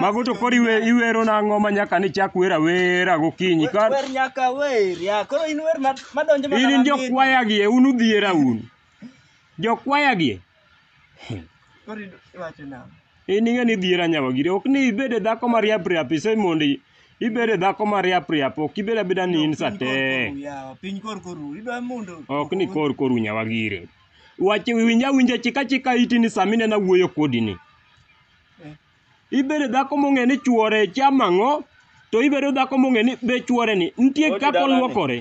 Mago to koro iwe- iwero nang'o ma nyaka ni chak wer awera gokinyi ka Wer nyaka wer, ya. Koro in wer ma- madonjo mana in mamit. jokwaya gie un udhiera un jokwaya gie Koro idu- iwacho nang'o? in ing'e ni dhiera nyawagire ok ni ibed e dhako mariap riap ise mondo i- ibed e dhako mariap riap ok ibed abeda ni in Piny sate korkoru, yawa, Piny korkoru. Idwa mondo. ok ni kor koru nyawagire wache winja winja chika chika iti ni sami nena wuoyo kodi ni Ibedo dhako mong'e ni chuore chamo ang'o, to ibedo dhako mong'e ni be chuore ni nitie Oti kaka dalane. olwokore.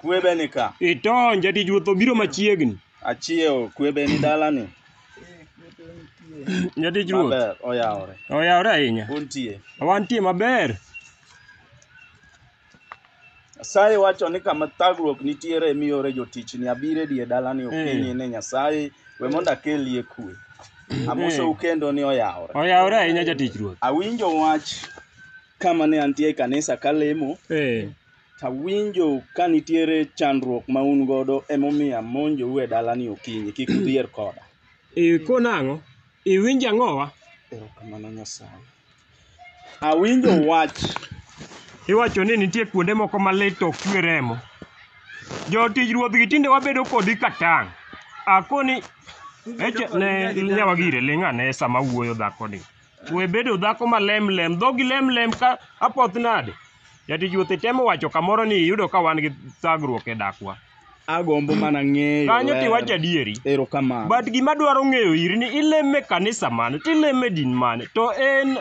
Kwebe ni ka. Itony, jatich ruoth obiro machiegni. Achiewo kwebe ni dalani. Jatich ruoth Maber oyawore. oyawore ahinya. Untie. Wantie maber. Nyasaye wacho ni kama thagruok nitiere emi ore jotichni abiro e die dalani okinyi ni Nyasaye we mondo akelie kwe. Amosou kendo ni oyawore. Oyawore ahinya jatich Ruoth. Awinjo wach kama ne antie e kanisa kalemo, Eh. tawinjo ka nitiere chandruok ma un godo emomiyo amonjou e dalani okinyi, kik udhier koda. Ikona ang'o? Iwinjo ang'owa? Erokamano Nyasaye. Awinjo wach. Iwacho ni nitie kuonde moko ma lit to ok chwe remo. Jotich ruodhgi tinde wabedo kodi ka tang'. Akoni eche ne nyawa gire ling' ane sama awuoyo dhakoni. We bedo dhako ma lemlem, dhogi lemlem ka apoth nade. Jatich Ruoth itemo wacho kamoro ni iyudo ka wan gi thagruok e dakwa. Agombo mana ng'eyo. Kanyo ler. tiwacho adieri. Erokamano. But gima dwaro ng'eyo iri ni ileme kanisa mane, tileme din mane, to en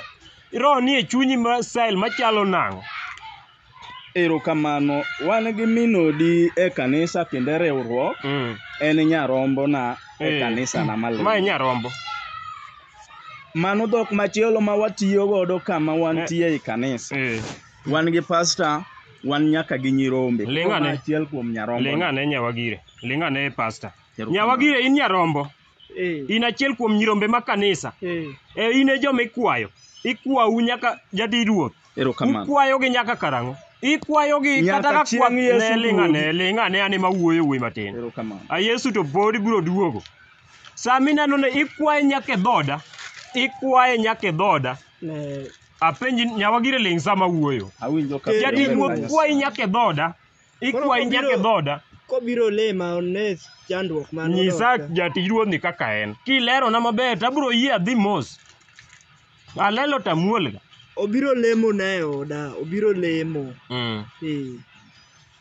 roho nie chunyi ma style machalo nang'o? Erokamano. Wan gi minodi e kanisa kendo e riwruok. Mm. En nyarombona e Eh. kanisa na malendo. Ma e nyarombo. Mano dhok machielo ma watiyo godo kama wantie ei kanisa. Eh, Wan gi pasta, wan nyaka gi nyirombe. Ling' Koro ma ane. achiel kuom nyarombo. Ling' ane nyawagire. Ling' ane pasta. Erokamano. Nyawagire in nyarombo. Eh, In achiel kuom nyirombe ma kanisa. eh. E in e joma ikwayo. Ikwau nyaka jadi ruoth. Erokamano. Ukwayogi nyaka karang'o? Ikwayogi Nyaka kata ka chieng' kwath Yesu ne ling' duogi. ane, ling' ane ane ma wuoyo wuoyi matin. Erokamano. A Yesu to pod ibiro duogo. Sama ineno ni ikwaye nyaka e dhoda, ikwaye nyaka e dhoda. Ne apenji nyawa gire ling' sama wuoyo. Awinjo ka Jadi Amen. ruoth kwayi nyaka e dhoda, ikwayi Koro nyaka e obiro- dhoda. kobiro lema one chandruok man Nyisa jatij ruodhni kaka en. Kilerona maber to abiro yie adhi mos. Alelo to amuol ga. Obiro lemo na e oda, obiro lemo. Mm. Eh.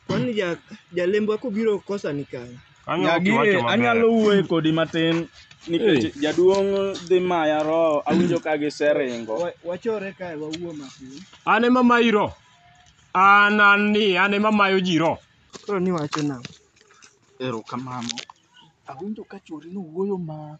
Kwani ja jalembwa kobiro kosa ni kanye? Kanyo ok Nyagi iwacho maber. anyalo wuoye kodi matin nikech Eh. jaduong' dhi maya roho awinjo ka giseringo. Wa- Wachore kae wawuo matin. An ema mayi ro. An an ni an ema mayo ji ro. Koro ni wacho nang'o? Erokamano. Awinjo ka chwori nowuoyo ma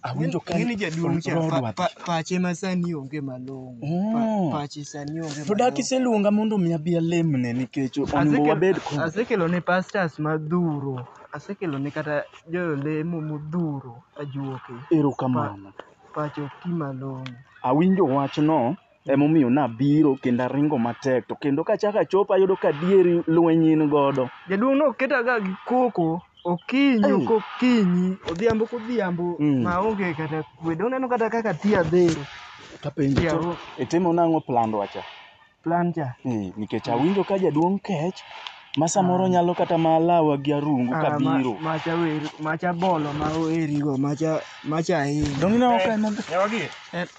Awinjo ka Ng'eni jaduong' cha Roho pa- dwatich. pa- pache ma sani onge malong'o. Oh. Pa- Pache sani onge To dak iseluonga mondo mi abi alemne nikech onego wabed kod asekelo ne pastors madhuro asekelo ne kata jolemo modhuro ajuoke erokamano. pacho ti malong'o Awinjo wachno Emomiyo nabiro kendo aringo matek, to kendo kachako achopo ayudo ka adieri lweny in godo. Jaduong' noketaga gi koko okinyi Ei. kokinyi, odhiambo kodhiambo Mm. maonge kata kwe. Doneno kata kaka tia dhero Tapenjo Yeah. to itimo nang'o plandwa cha? plan cha. Eh, nikech awinjo ka jaduong' kech ma samoro nyalo kata ma lawa gi arungu Ah, ma- kabiro. Macha wer, macha bolo ma oerigo, macha macha ahinya. Donge ineno ka en- Nyawagi,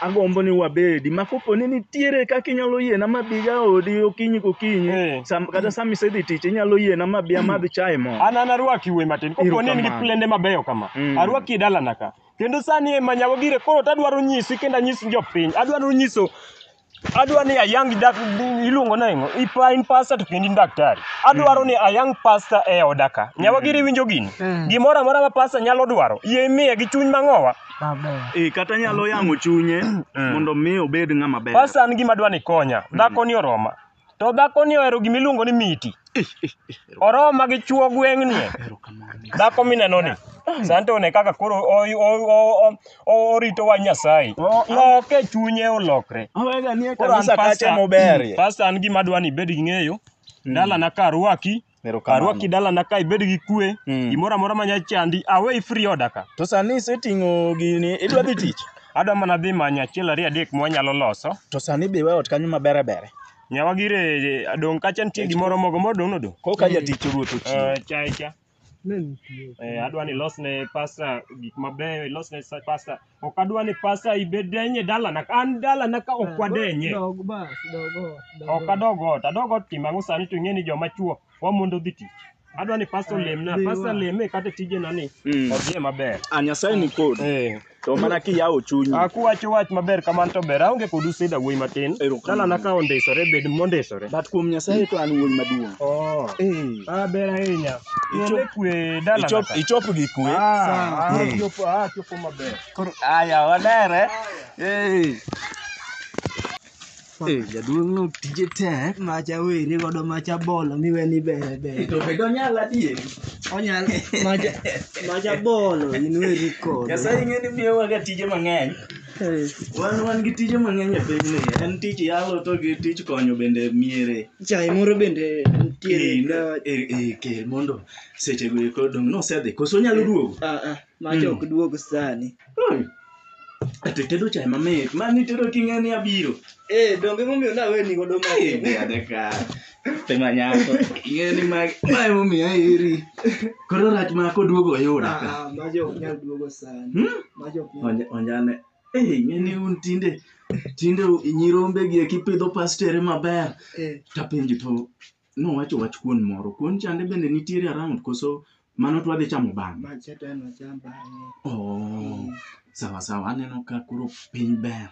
agombo ni wabedi ma kopo ni nitiere kaka inyalo yiena mabiga odi okinyi kokinyi Eh. sam, kata sama isedhi tich inyalo yiena mabi amadh chai mo an an arwaki wuoyi matin kopo ni in gi Erokamano. plende mabeyo kama Mm. arwaki e dalana ka kendo sani e manyago gire koro to adwaro nyisi kendo anyis jopiny adwaro nyiso adwaro ni ayang dak iluongo nang'o ipa in pasta to kendo in daktari adwaro ni ayang pasta e oda ka nyawa gire winjo gini gimoro amora ma pasta nyalo dwaro yie imiye gi chuny mang'owa maber. Eh, kata nyalo yang'o chunye mondo mi obed ng'ama ber. Pasta an gima dwa ni konya. Dhako ni oroma. To dhako ni ohero gima iluongo ni miti. Oroma gi chuo gweng'ni. Dhako mineno ni. Sante one kaka koro o- o- o- o- o- orito wa Nyasaye. O- Loke chunye olokre. Awega nie Koro an kanisa kacha pasta, moberie. pasta an gima dwa ni ibed gi ng'eyo. Dalana ka arwaki, Erokamano. Arwaki dalana ka ibed gi kwe, Mm. gimoro amora manya chandi, away free order ka. To sani iseting'o gini, idwa dhi tich. Adwa mana dhi manyo achiel ariyo adek mwanyalo loso. To sani be iwe ot kanyo mabere bere. Nyawa gire dong' kacha nitie gimoro mogo modong' nodong'. Koka jatich ruoth ochiwo. Eh, cha cha. Eh, adwa ni ilosne pasta gik mabeyo, ilosne sa- pasta Ok adwa ni pasta ibed denye dalana. An dalana ka ok wadenye. Dog bas, dog ot. dog Ok ot. adog ot. Adog ot timo ang'o sani to ing'e ni joma chuo wamondo dhi tich. Adwa ni pasta olemna. Dhiwa. Pasta leme kata tijena ni Mm. odhiye maber. A Nyasaye ni kodi. Eh. To mana kiyawo chunyi. A kuwacho wach maber kamano to ber. Aonge kod useda wuoyi matin. Erokamano. Dalana ka ondisore bed mondisore. But kuom Nyasaye to an wuoyi maduong'. Oh. Eh. Ah, ber ahinya. Ichop- Ichop kwe dalana. Ichop ka. ichop gi kwe. Ah, ah, Mm. chopo- ah, chopo Koro aya walere. Eh. Eh, jaduong' no tije tek. Macha were godo macha bolo miwe ni bere bere. To be donyal adier. Onyal macha macha bolo in weri kod. Nyasaye ing'e ni miyowa ga tije mang'eny. Wan wan gi tije mang'eny e pinyni. En tich yalo to gi tich konyo bende miere. Chai moro bende nitiere. Eh, eh, eh, kel mondo seche go eko dong' nosedhi. Koso onyalo duogo? Ah ah. Mach ok duog sani. Hmm. Ato itedo chai mamit. Ma nitedo king'e ni abiro. Eh, donge momiyo nawe ni godo ma. Tema nyako. Ing'e ni ma ma emomiyo aheri. Koro rach ma koduogo oyuda ka. Ah, mach ok nyal duogo sani. Hmm? Mach ok nyal. Onja- Onjane. Eh, ing'e ni un tinde tinde nyirombe gi eki pidho pastere maber. Eh, Tapenjo to Nowacho wach kuon moro. Kuon chande bende nitiere around koso mano to wadhi chamo bang'e? Ma cha to en wacham bang'e. Oh, sawa sawa, aneno ka koro piny ber.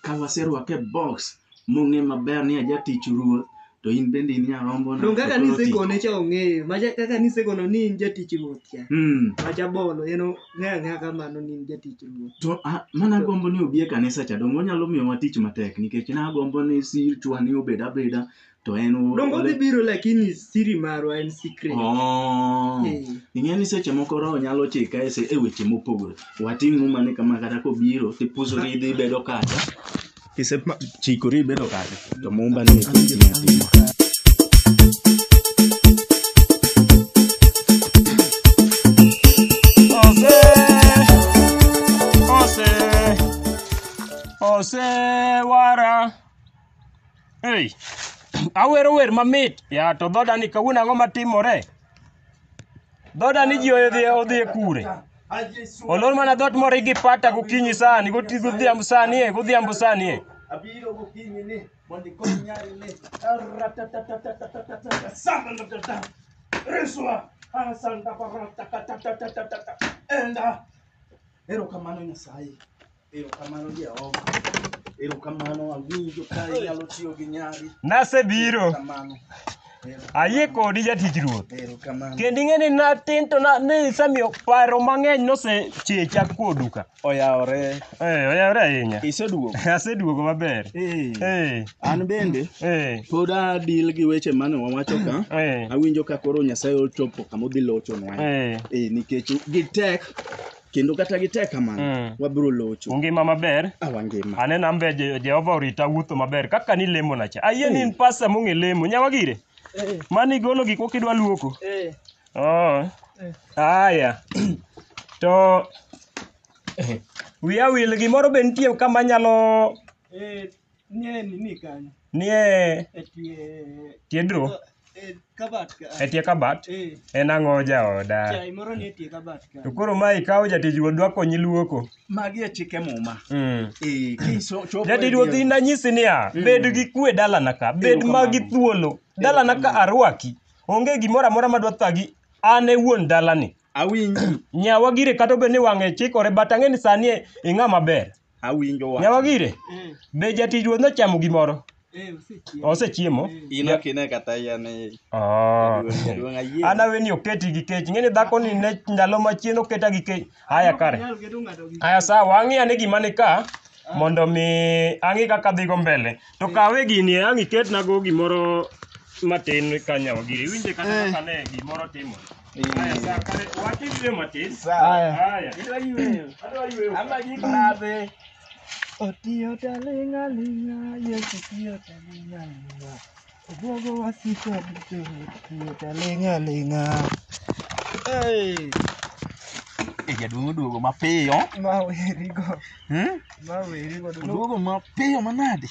Ka waserwake e box mong'e maber ni aja tich ruoth to in bende in nyarombo na. Donge kaka to koro ti. nisekone cha ong'eyo. Ma cha kaka nisekono ni in jatich ruoth cha. Mm. Ma cha bolo en ong'eyo ang'eya kamano ni in jatich ruoth. To a, mana gombo ni obi e kanisa cha donge onyalo miyowa tich matek nikech nagombo ni silchwa ni obed abeda to en u- Dongo dhi biro lakini siri marwa en secret. Oh. Eh. ing'e ni seche moko roho nyalo chika e se- e weche mopogore wating' muma ni kama kata kobiro tipusori idhi ibedo kacha kisechikori ibedo kacha to mumba ni Ose, ose, ose, wara. Ei, awero wer mamit. Ya to dhoda ni kawuono ang'o matimore? Dhoda ni ji odhi odhi e kure. Olor mana dhot moro gi pata gokinyi sani, goti godhiambo sani e, godhiambo sani e. Abiro gokinyi ni mondo ikony nyari ni. Ratatatatatatatata. Samba ndatata. Reswa. Asanda barata katatatatata. Enda. Erokamano Nyasaye. Erokamano Jehova. Erokamano awinjo ka inyalo tiyo gi nyari. Nasebiro. Erokamano. Ayie kodi jatich ruoth. Erokamano. Kendo ing'e ni natin to na- ne isemiyo paro mang'eny nosechecha kuodu ka. Oyawore. Eh, oyawore ahinya. Iseduogo. Aseduogo maber. Eh. Eh, An bende eh, pod adil gi weche mane wawacho ka. eh, Awinjo ka koro Nyasaye ochopo kama odhi lochonwa. eh. Eh, nikech gitek kendo kata gitek kamano Mm. wabiro locho Ungima maber? awangima Aneno ambe Je- Jehova orita wuotho maber kaka ni lemo na cha. Ayie ni in pasta mong'e lemo. Nyawa gire. Mani golo gik moko idwa luoko. Oh. Aya. To wiya wil gimoro be nitie kama nyalo Nie nini kanyo? Nie E tie tie draw, e kabat ka. e tie kabat. Eh, En ang'o jaoda? chai moro nie tie kabat ka. To koro ma ikawo jatich wuodwa konyi luoko. Magi e chike muma. Mm. Eh, kiso chopo. Jatich wuodhi na nyisi niya, bed gi kwe dalana ka, bed Erokamano. ma gi thuolo. Dalana ka Erokamano. arwaki. Onge gimoro amora madwa thagi. An e wuon dalani. Awinji. Nyawa gire kata obed ni wang'e chikore but ang'e ni sani e- ing'a maber. Awinjo wach. Nyawagire, Eh, be jatich ruoth nochamo gimoro? eh, osechiemo. Osechiemo? In ok ine kata yien e Oh. duong' ayie. An awe ni oketi gi kech. Ing'e ni dhako ni ne ndalo machien oketa gi kech. Haya kare. Nyalo keto ng'ato gi- Haya sawa, ang'i ane gima ni ka mondo mi ang'i kaka dhigo mbele. To kawe gini ang' iketnago gimoro matin ka nyawagire. Iwinje kata Eh. kaka ne gimoro timo. Haya, sawa, kare, wacha iwe matin. Haya. Haya. Adwa yweyo. Adwa yweyo. Ama gik madhe. Otiyo talinga linga, Yesu tiyo talinga linga. Obuogo wasiko duto, otiyo talinga linga. Hey, Eh, jaduong' oduogo mapiyo. ma werigo, Hmm? ma werigo. Oduogo mapiyo manade.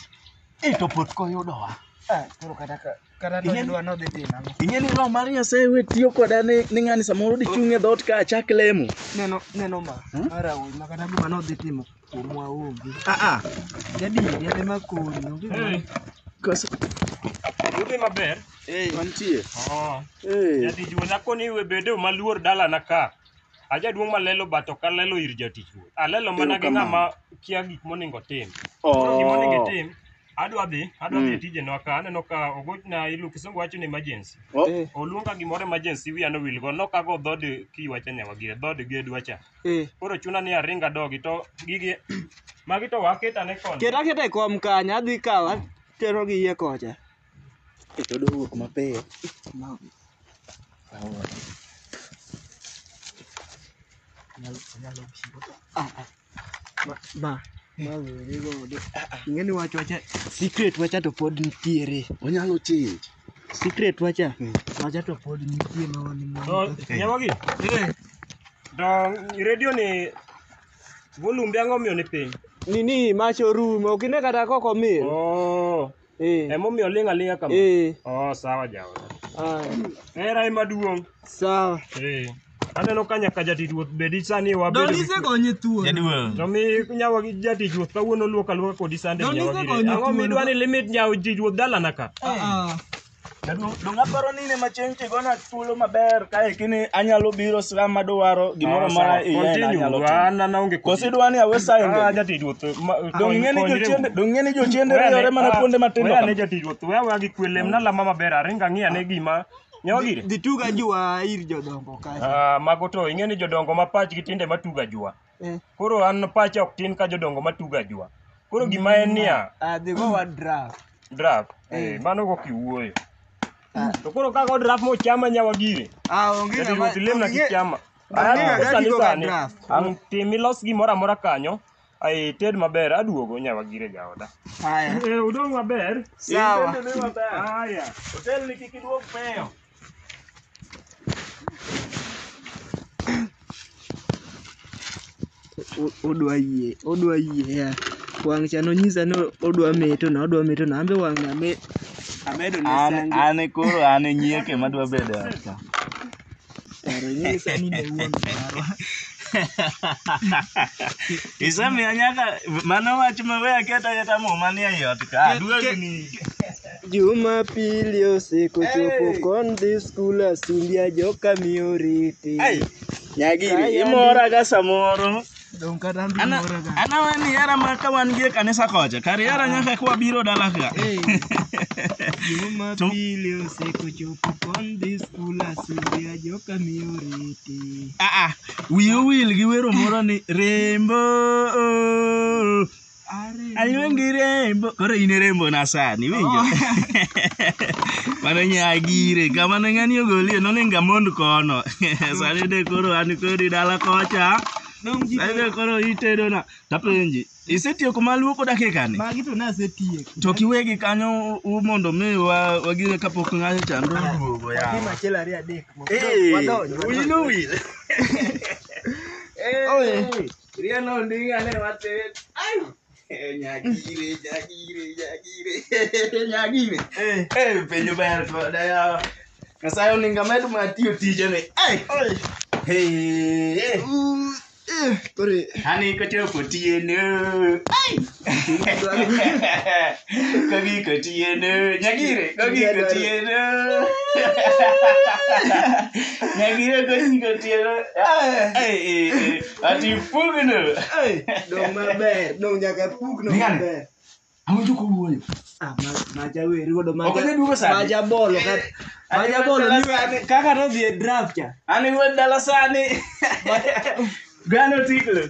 Eh, to pot koyudowa. Ah, koro kata ka Kata to Ing'e- idwa nodhi timo ang'o? ing'e ni roho mar nyasaye we tiyo koda ni ni ng'ani samoro dichung' e dhoot ka achak lemo Neno neno ma. Hmm? Mara wuoyi ma kata gima nodhi timo kuomwa onge. aa Jadier yadhe ma konyi onge. gima- koso Udhi maber? mantie Oh. Eh, Jatich wuon akoni we bedo maluor dalana ka. Ajaduong' malelo bato ka lelo ir jatich wuon. Alelo mana gi Erokamano. ng'ama kia gik monego tim. Koro gima onego oh. itim, Adwa dhi, adwa dhi e tijenwa ka, aneno ka ogochna ilu kisungu wacho ni emergency. Oh. Eh, Oluonga gimoro emergency wiya nowil go, nok ago dhood kiwacha nyawagie, dhood gedwa cha. eh. Koro chuna ni aring adogi to gigi magi to waketa ne kon. Ket aketa e kom kanyo, adhi kawo atero gi iye kocha. Keto dowuok mapiyo. Anyalo, anyalo biro. Ah, ah. Ma, ma, ma weri godo. Ing'eni wach wacha, secret wacha to pod nitiere. Onyalo change. Secret wacha, Mm. wacha to pod nitie ma wan mwa- Nyamogi, to redio ni volumbe ang'o miyo ni piny? Nini mach orumo, ok ine kata koko mil. Oh, Eh. Emomiyo oling' aling'a kama. Eh. Oh, sawa jaoda. Ah. Hera ema duong'. Sawa. Eh. Aneno ka nyaka jatich ruoth bedi sani wabedo. Don ise gonye thuol. Jaduong'. To mi nyawa gi jatich ruoth kawuono luok aluoka kodi sande Don nyawa ise gi. gonye Ang'o thuolo. midwa ni limit nyawa jatich ruoth dalana ka? Ah, ah. Jaduong' dong' aparo ni ne machieng' tigona thuolo maber kae kini anyalo biro sa madwaro gimoro amora iye na anyalo timo. An an aonge kod. Kosi dwani awe sa Ah, ende. jatich ruoth. ma- Dong' ing'e ni konyre jochiende u. dong' ing'e ni jochiende Weane- riyore mana ah, kuonde matindo weane kama. jatich ruoth. Weya weya gi kwe lemna lama maber aringa ng'i ane gima nyawa gire. Dhi tuga jua ir jodongo kacha. Ah, mago to ing'e ni jodongo ma pachgi tinde matuga jua. Eh. Koro an pacha ok tin ka jodongo matugo ajua. Koro gima en niya, Ah, dhi go wa draft. draft, eh, Eh. mano go kiwuoyo. Ah. To koro kago draft mochama nyawa gire. Ah, onge Jati ng'ama- ruoth lemna onge- kichama. onge Aya, ng'ama sani kigo ga sani. draft. Ang' Tim ilos gimoro amora kanyo. Ai ted maber aduogo nyawa gire jaoda. Haya. Eh, udong maber. Sawa. Aya. Otel ni kik iduog peyo. odwa yie odwa yie ya wang' cha nonyisa ni odwa meto na odwa meto na ambe wang' na me amedo ne An sange an e koro an e nyieke madwa bedo e ot ka. paro nyisa ni ne wuon marwa Isemiya nyaka mano wach ma we aketa aketa muma ni e ot ka. Aduogni. Jumapili osekochopo kon dhi skul asumbia joka mi oriti. Ai, nyagiri imora ga samoro Dong kata an be Ana- mora ga. ana wan hera ma ka wan gie kanisa kocha kar hera nyaka ka wabiro dala ka Hey. Jumapili osekochopo kon dhi skul asumbia joka mi oriti. Ah, ah, wiyo wil gi wero moro ni rembo Aluongi rembo. Koro in e rembo na sani, iwinjo? Mano nyagire, kama ne ng'ani ogolie, noninga mond kono. Sani de koro an kodi dala kocha. Dong' ji Sani de koro itedona. Tapenji, isetieko ma luoko dakika ni? magi to nasetieko. To kiwegi kanyo u mondo mi wa- wagire kapok ng'ayo chando duogo ya. Tim achiel ariyo adek. Hey, Wadonj, wadonj. wino wil. Oye. Rielo nding ane matin. Ai. Eh, Nyagire, nyagire, nyagire. Nyagire. Eh. Eh, penjo ber koda yawa. Nyasaye oninga med ma tiyo tijene. Ai. Hey. Kore. Ani kochopo tiene. Ai. kogiko tieno nyagire kogiko tieno nyagire kogiko tieno ati pugno dong maber dong nyaka pugno maber awinjo kowuoyo ah, maja weri godo maja bolo maja bolo kaka nodhi e draft cha an iwuod dala sani gano tiklo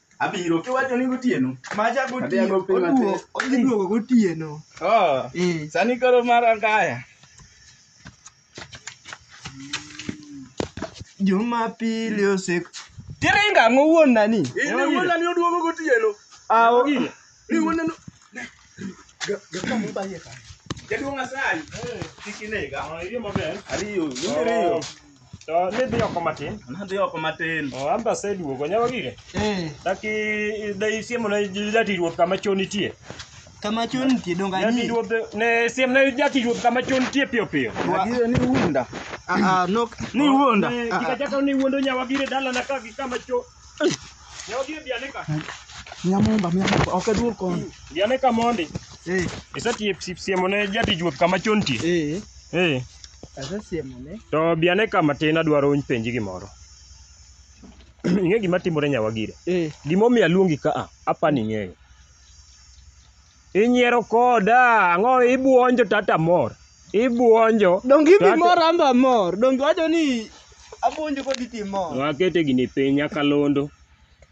Abiro kiwacho ni gotieno. Macha Adhi gotieno. ago piny Oduo, matin. odhi duogo gotieno. Oh, Eh. sani koro mar angaya. Jumapili osek. Tiringa ng'o wuon nani? In wuonani oduogo gotieno. Awo. Riu waneno. Gaka mubaye ka. Jaduong' Asali. Kiki nega. Ah, iyo maber. Ariyo. Nende riyo. Oh. To nidhi oko matin. Nadhi oko matin. Oh, amba seduogo nyawa gire. Eh. Taki dai siemo na jati ruoth kama chon nitie. Kama chon nitie donga ni. Jati ruoth ne siem na jati ruoth kama chon nitie piyo piyo. Agire ni wunda. Ah, ah, nok ni wuonda. Kika chaka ni wuondo nyawa gire dala na ka gi kama cho. Nyogie bianeka. Nyamumba, nyamumba, ok aduog kon. Bianeka mondi. Eh, Isetiep sip siemo ne jatij ruoth kama chon tie. eh, Eh. asesiemo ne. To bianeka matin adwaro uny penji gimoro. Ing'e gima timore nyawagire. Eh, Gimomiyo aluongi ka a, apani ing'eyo. Inyiero koda, ang'o ibuonjo tata mor. Ibuonjo. Donge ibi mor an be amor. Donge iwacho ni abuonjo kodi to imor. Wakete gini piny nyakalondo.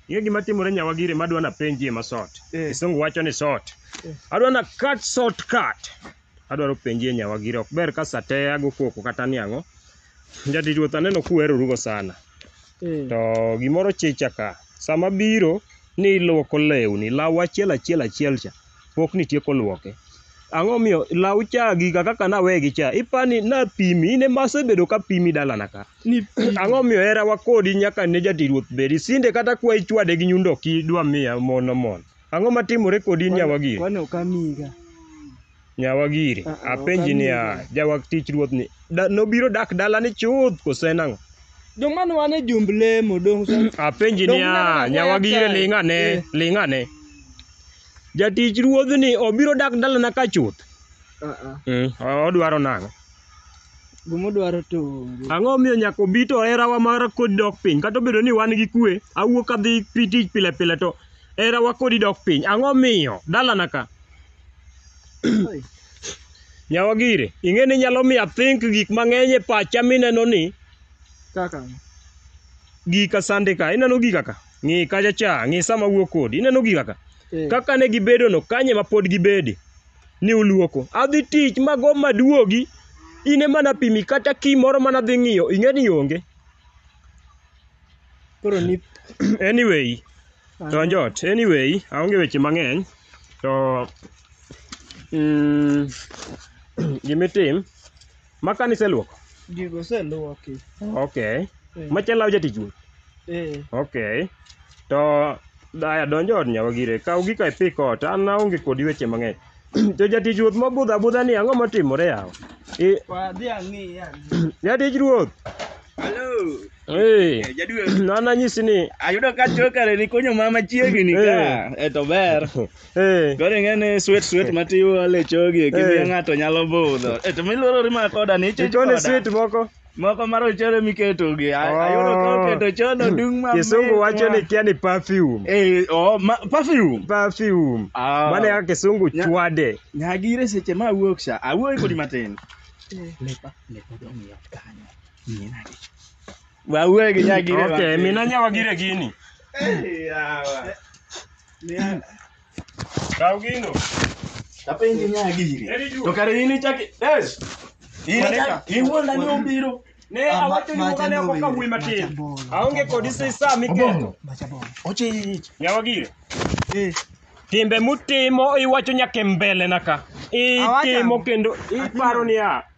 Ing'e gima timore nyawa gire madwa napenjie ma sort. Eh. Kisungu wacho ni sort. Adwa na cut short cut. adwaro penjie nyawa gire ok ber ka saa te ago koko kata ni ang'o jatich ruoth aneno kuwerorugo sana Eh. to gimoro chicha ka sama biro ni ilwoko lewni law achiel achiel achiel cha pok nitieko lwoke ang'o miyo law cha giga kaka nawegi cha ipani napimi in ema asebedo ka pimi dalana ka Ni ang'o miyo herawa kodi nyaka ne jatich ruoth bedi sinde kata kwa ichwade gi nyundo ok idwa miya mon omon Ang'o matimore kodi in nyawa giri? Kwani ok amiga. Nyawa giri, Ah, ah, apenji ok niya, amiga. jawak tich ruoth ni da, nobiro dak dalani chuth koso en ang'o? Dong mano wan e jumb lemo dong sa. Apenji Dong niya, unanena nyawa kwaya giri kae. ling' ane, Eh. ling' ane. Jatich ruodhni obiro dak dalana ka chuth. Ah ah. Mm, odwaro nang'o? Guma dwaro to onge. Ang'o miyo nyaka obi to herawa mar kod dok piny? Kata obedo ni wan gi kue, awuok adhi pi tich pile pile to Herawa kodi dok piny. Ang'o miyo? Dalana ka. Nyawagire, ing'e ni nyalo miyo athink gik mang'eny e pacha mineno ni Kaka. gika sande ka. Ineno gika ka? Ng'i kacha cha, ng'i sama wuo kodi. Ineno gika ka? Eh. Kaka ne gibedono, kanye ma pod gibede? Ni uluoko. Adhi tich mago maduogi. In ema napimi kata key moro mana dhi ng'iyo, ing'e ni onge. Koro ni anyway, donj ot. Anyway, aonge weche mang'eny to mm, gimitim ma kanisa luoko. gigo oseluoki. Okay. Eh, Machielo law jatich wuon. eh, Okay. To daya donjo od nyawa gire. Kaw gika ipik ot. An aonge kodi weche mang'eny. to jatich ruoth mobudho abudha ni ang'o motimore yawa? I- wadhi ang'i yani. Jatich ruoth. Hello. Hey, Eh, Jaduo, na nanyisi ni ayudo ka chokare ni konyo mama chiegni ka. Eh to ber. eh, Koro ing'eni sweet sweet ma tiwo le chogi kimiyo Eh. ng'ato nyalo budho. Eh to miluoro rima koda ni chich ikone koda. sweet moko Moko mar ochere miketo gi. a- Oh. Ayudo ka oketo chono dung ma. kisungu wacho ni kia ni perfume eh oh ma, perfume. perfume Ah. mane kaka kisungu Nya- chwade Nyagire seche ma awuok sha. Awuoyo kodi matin. Lepa lepa dong yot kanyo. Wawe gi nyagire. Okay, mina nyawa gire gini. Kaw gino. Tapenji nyagire. Eri juu. To kare in ichaki. Yes. In Maneka. ichaki. Iwuonda ni obiro. Ne Ah, awacho ma- ni macha mane ok nowinjo, kawuoyi macha matin. bolo. Aonge kodi sisa miketo. Ochich. Nyawa gire. Eh. Timbe mutimo iwacho nyaka e mbele na ka. Itimo Awacho. kendo iparo ni a.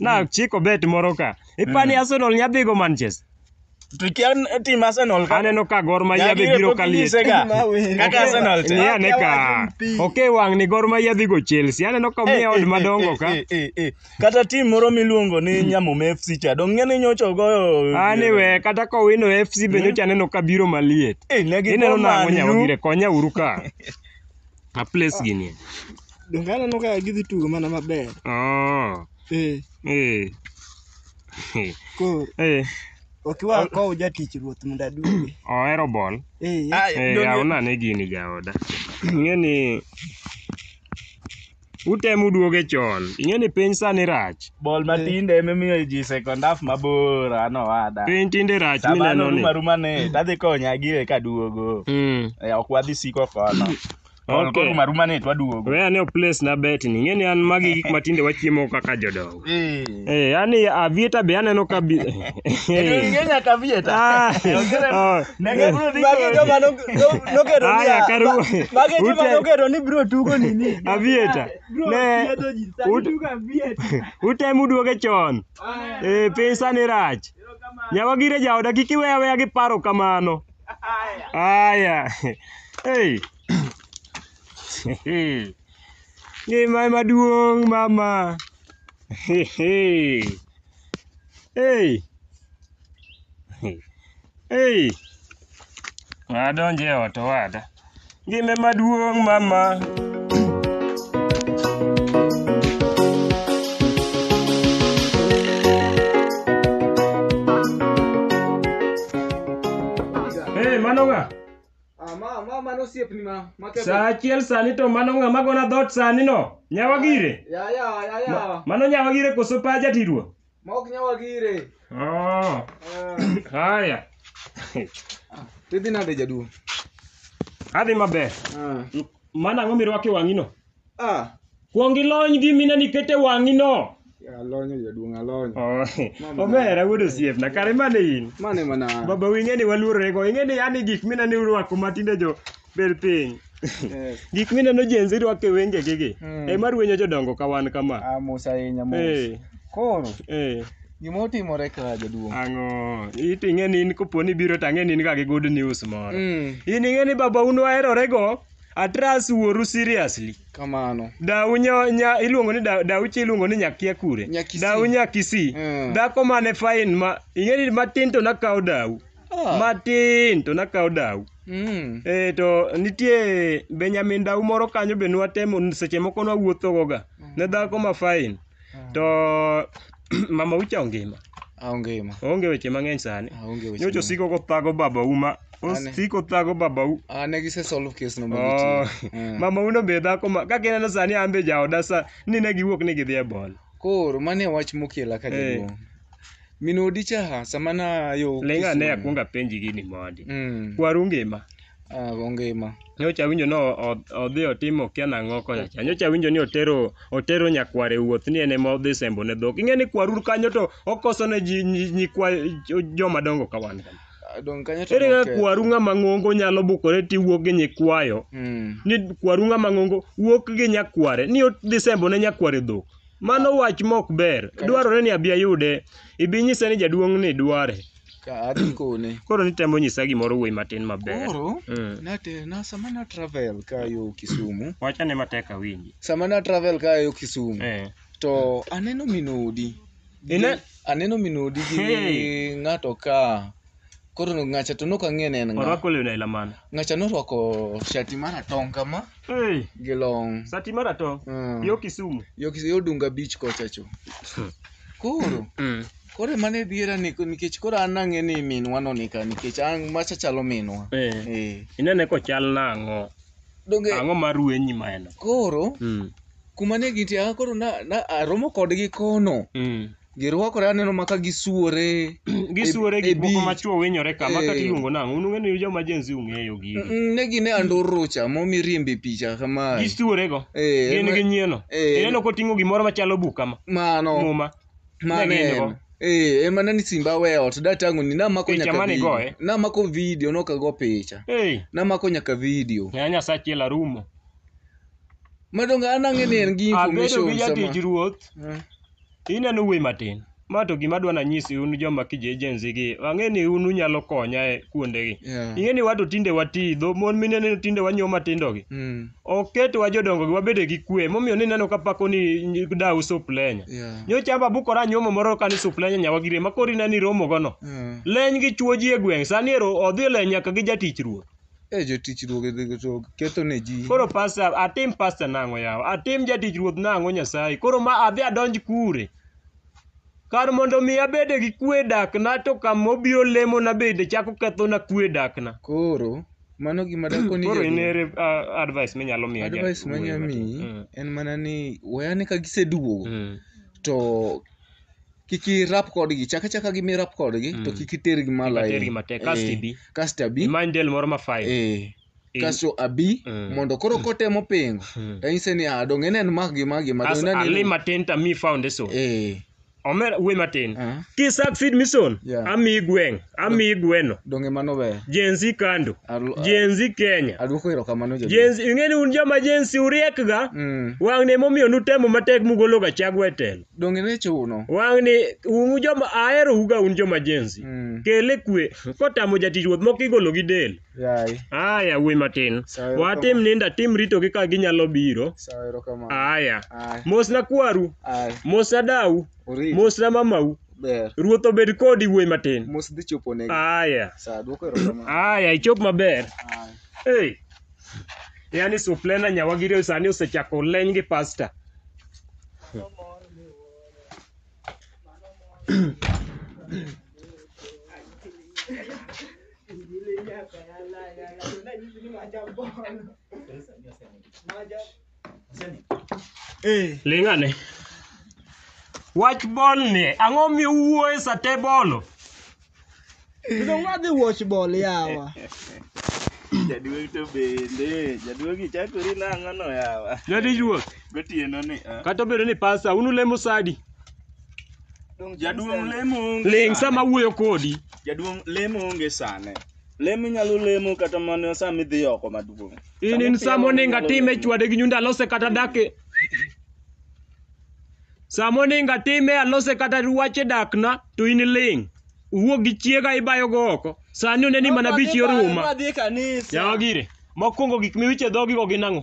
nachiko bet moro ka ipani Arsenal nya dhigo Manchester To kia tim Arsenal ka. aneno ka Gor Mahia be Nyagire biro pok ka liet inyise ga. Kaka Arsenal cha. Nia ne ka ok e wang' ni Gor Mahia dhigo Chelsea aneno ka miya od madongo ka Eh, eh, eh. Kata tim moro miluongo ni Nyamum FC cha. Dong ng'e ni nyocha ogoyo. anyway kata ka owino FC be nyocha aneno ka biro maliet Eh, ne gigo ineno nang'o Man U. nyawagire konya uru ka A place gi nie. Donge aneno ka gidhi tugo mana maber. Oh. Eh. Eh. Koro. Eh. Ok wa oh. kow jatich ruoth mondo aduoge. Ohero bol. Eh. Eh, yaw nane gini jaoda. Ng'e ni Utem uduoge chon. Ing'e ni piny sani rach. Bol matinde ema imiyo ji second half mabor ano wada. Piny tinde rach Sabano mineno ni. ruma ruma ne tadhi konya gire kaduogo. Mm. Eh, Ok wadhi siko kono. Bol Okay. koruma ruma ne twaduogo. We ane o place na bet ni. Ing'e ni an magi gik matinde wachiemo kaka jodongo. Eh. Eh, yani avieta be aneno ka bi. Onge nyaka vieta. Ah, oh, Nege eh. bro ni. Magi joma no- no- nokedo ni- Aya, karu- ma- magi joma ute- nokedo ni bro tugo nini. Avieta. Ne ut- utemu duoge chon. Eh, piny sani rach. Nyawa gire jaoda kik iwe aweya gi paro kamano. Aya. Hey. Ngima ema duong' mama. Hey. Hey. Adonje e ot owada. Ngima ema duong' mama. Hey, mano ng'a? Ah, ma ma mano osiepni ma ma ketho. Saa achiel sani to mano ng'ama gona dhoot sani no. Nyawa gire. Ya ya ya Ma- ya. Mano nyawa gire koso pa jatirwo. Ma ok nyawa gire. Oh, Ah, haya. Tidhi nade jaduong'? Adhi maber. Ah. Mana ang'o mirwako e wang'ino? Ah, Kuong ilony gi mina nikete wang'i no. ya alonyo jaduong' alonyo. Oh, Mama. Omera wuod osiepna kare mane in. Mane mana. Baba wing'e ni waluorore go. Ing'e ni yani gik mina ni urwako matinde jo bel piny. Yes. Gik mina no jenzi rwako e wenge gigi. Mm. E mar wenyo jodongo ka wan kama. Ah, mos ahinya mos. Eh, Koro, eh. gima otimore ka jaduong'. Ang'o? It ing'e ni in koponi biro to ang'e ni in ga gi good news moro. Mm. In ing'e ni baba un waherore go. Atras wuoru seriously. Kamano. Dau nyo, nya, iluongo ni dau, dau chi iluongo ni nyakia kure. Nyakisi. Dau nyakisi. Mm. Dhako mane fine ma ing'eni matin to nakawo dau. Ah. Matin to nakawo dau. Mm. E, to nitie Benjamin dau moro kanyo be nwatemo seche moko nwawuothogoga ne dhako ma fine. To Mama Ucha ongima. Aonge ma. Oonge weche mang'eny sani. Aonge weche. Nyocha osiko kothago babau ma Ane. osiko thago babau. Ah, ne gise solve case no Oh, ma gitii. mama uno be dhako ma kaka ineno sani an be jaoda sa ni ne giwuok ni gidhi e bol. Koro mane wach mokela ka Eh. jaduong'. Min odi cha ha sama na yo. Lenga ne Kisumu. akuonga penji gini mondi. Mm. Kwaru ngima. Ah, gongima. Nyocha awinjo ni o- o- odhi otimo okia nang'o kocha cha. Nyocha awinjo ni otero otero nyakware wuoth ni en ema odhi sembo ne dhok. Ing'e ni kwarur kanyo to okoso ne ji nyi- nyikwa jo- joma dongo ka wan. kama. Ah, Dong kanyo to Ere kaka noketho. kwaru ng'ama ng'ongo nyalo bukore tiwuok gi nyikwayo Mm. ni kwaru ng'ama ng'ongo wuok gi nyakware ni odhi sembo ne nyakware dhok. Mano wach mok ber. Dwarore ni abi ayude. Ibi nyise ni jaduong' ni dware. ka adhi kone Koro nitemo nyisa gimoro wuoyi matin maber. koro Mm. nate na sama na travel ka yo Kisumu Wachane matek awinji. sama na travel ka yo Kisumu Eh. to aneno minodi Ine- aneno minodi gi Hey. ng'ato ka koro ng'acha to nok ang'e ne en ng'a Orwako lewni aila mane? ng'acha norwako shati maratong' kama Hey, gi long sati maratong'. Mm. Yo Kisumu. yo Kis- yo Dunga beach kocha cho koro Mm. Koro mano ediera ni nikech koro an nang'e ni minwa no nika nikech an macha chalo minwa. Eh. Eh. Inene kochal nang'o? Donge Ang'o ma ruenyi ma en? koro Mm. kuma ne gintie ah, koro na, na aromo kodgi kono. Mm. Girwakore aneno maka gisuore. Gisuore E- gik e moko beach. ma chwo winyore ka, ma kata Eh. iluongo nang'o? Un ung'e ni joma Gen Z ung'eyo gigi. Mm, Ne gine andorro cha momi riembe picha kamae. Gisuorego. Eh, Gin ma- gi nyieno. Eh. Ineno koting'o gimoro machalo buk kama. Mano. Muma. Mane Negi in go? en. Eh, ema nani simba we ot datango ni namako Picha nyaka mane video. igoye? Namako video nokago picha. Hey, Namako nyaka video. ya Nyasachi la rumo. Madonga an ang'e ni en gi Abedo information gi jatich sama. ruoth, Eh. ineno wuoyi matin. Ma to gima dwa nanyisi un joma kije agency gi, ang'e ni un unyalo konya e kuondegi. Yeah. Ing'e ni wato tinde wati, dho mon mineno tinde wanyuo matindogi. Mm. oketwa jodongo gi wabede gi kwe momiyo ni neno ka pako ni dawu suplenya Yeah. nyocha amba bukora nyuomo moro ka ni suplenya nyawa gire ma kori nani romo gono Mm. leny gi chuo ji e gweng' sani ero odhi e leny nyaka gi jatich ruoth Eh, jotich ruoth gi- to ketho ne ji koro pasta atim pasta nang'o yawa atim jatich ruoth nang'o nyasaye koro ma adhi adonj kure Kar mondo mi abed gi kwe e dakna to kama obiro lemona bende chako kethona kwe e dakna. Koro mano gima dakoni Koro in jaduong'. ere ah, advice minyalo miyo ja- Advice manya wuoyi miyi matin? Mm. en mana ni weyane ka giseduogo Mm. to kik irap kodgi chak achaka gi mirap kodgi to Mm. kik itergi malo Kik itergi ahinya. matek, kasto Eh, ibi. kasto abi Imany del moro ma fine. eh in- Kasto abi Mm. mondo koro kotemo pingo Mm. to anyise ni ah donge en en magi magi ma as donge en ali en- matin to amiyi foundation eh omer wuoyi matin ah, kisak feed mission Yeah. amiyi gweng' amiyi gweno donge mano ber. jenzi kando Alu- ah, jenzi kenya Aduoko erokamano jaduong'. jenzi ing'eni un joma jenzi uriekga Mm. wang'ni emomiyo nutemo matek mugologa chagwa e telo Donge ne chuno. wang'ni un joma aherouga un joma jenzi Mm. kele kwe kotamo jatich ruoth moko igolo gi del Yaye. Aya yawuoyi matin. Sawa, erokamano. Watim ninda tim ritogi ka ginyalo biro. Sawa erokamano. Aya. Aya. Mosna kwaru. Aya. Mosna dau. Oriti. Mosna mamau. Ber. Ruoth obed kodi wuoyi matin. Mos dhi chopo negi. Aya. Sawa dwoko erokamano. Aya ichop maber. Aya. Hey. Yaani suplena nyawagire sani osechako leny gi pasta. Lingane. Wach bol ni ang'o miwuoye sate bolo? Kendo ngadhi watch ball yawa. Jaduong' to bende. Jaduong' ichakori nang'o no yawa? Jodij ruoth. Gotieno ni. ah. Kata obedo ni pasta unu lemo sadi. Jaduong' lemo onge Ling' sane. sama awuoyo kodi. Jaduong' lemo onge sane. Lemo inyalo lemo kata mana sama idhi oko maduong'. In in Sama sama oninga inyalo time lemo. chwade gi nyundo alose kata dake. Sama oninga time alose kata ruache dakna to in ling'. Uwuok gi chiega ibayo go oko. Sani oneni mana bich yoruma. Adhi e kanisa. Yawa gire. Mokwongo gik miwiche dhogi go gin ang'o?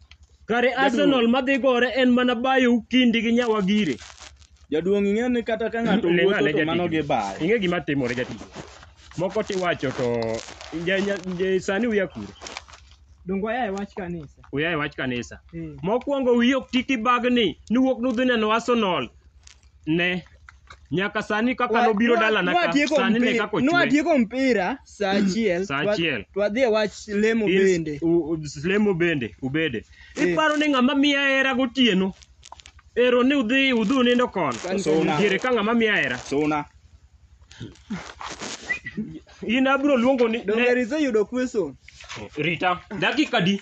Kare Jaduong'. Arsenal madhi gore en mana bayo kindi gi nyawagire. Jaduong' ing'e ni kata ka ng'ato Ling'ane wuotho to jatich. mano gi bayo. Ing'e gima timore jatich. Moko tiwacho to ja- nya- ja- sani uya kure. Dongo aya e wach kanisa. Uya e wach kanisa. Eh. Mokwongo wiyi ok ti kibagni ni wuok nudhi neno Arsenal. ne nyaka sani kaka Wa- nobiro nwa- dalana ka nwatieko sani ne mpi- kaka ochwe nwatieko mpira saa achiel Saa twa- achiel. twadhi e wach lemo In- bende u- u- lemo bende ubede Eh. iparo ni ng'ama miya hera gotieno ero ni udhi udhi unindo kono Kan- Suna. diere ka ng'ama miya hera Suna. in abiro luongo ni donge ne- riseyudo kweson rita dakika di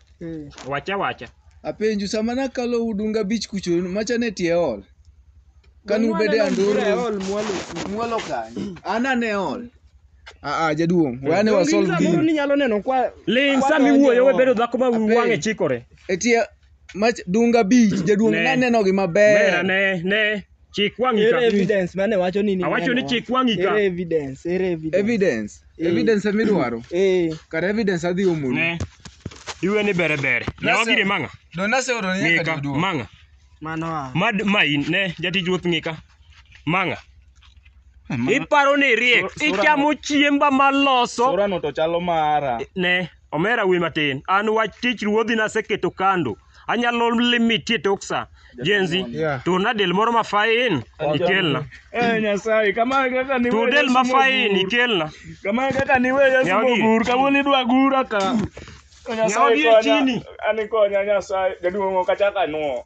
Eh. Wacha wacha. Apenju sama nakalo udunga abich kucho macha ne tie ol. Kanu bede anduru. Mwalo kanyo. Ana ne ol. Ah ah jaduong. Wayane wa solve Moro gini. ni nyalo neno kwa Ling Kwa sami donjo. wuoyo we bedo dhako ma Apenj. wang'e chikore. E tie mach dunga abich jaduong Ne. naneno gi Mera maber. ne ne. Chik wang'i Ere ka. evidence mane wacho ni ni Awacho ni neno? chik wang'i ka. Ere evidence, ere evidence. Evidence. Eh. Evidence ema idwaro. Eh, Kar evidence adhi omoni. Ne. Iwe ni bere bere. Ne Nasa- wagire mang'a. Don naseoro ni nyaka Ng'ika joduo. mang'a. mano a. Mad ma in ne jatij ruoth ng'ika. Mang'a. Iparo ni riek. Sura- sura- Ichamo chiemba maloso. Sorano to chalo mara. Ne. Omera we matin. An wach tich ruodhi naseketo kando. Anyalo limitie tok sa. Jenzi, Yeah. turna del moro ma fain ikelna. Eh Nyasaye, kama kaka ni Tur del ma fain ikelna. Kama kaka ni wewe Yesu Nyawagi. mogur, kawuono idwa gura ka. Nyasaye Nyawagi e konya. chini. Ani konya Nyasaye, jaduong' ok achak anuo.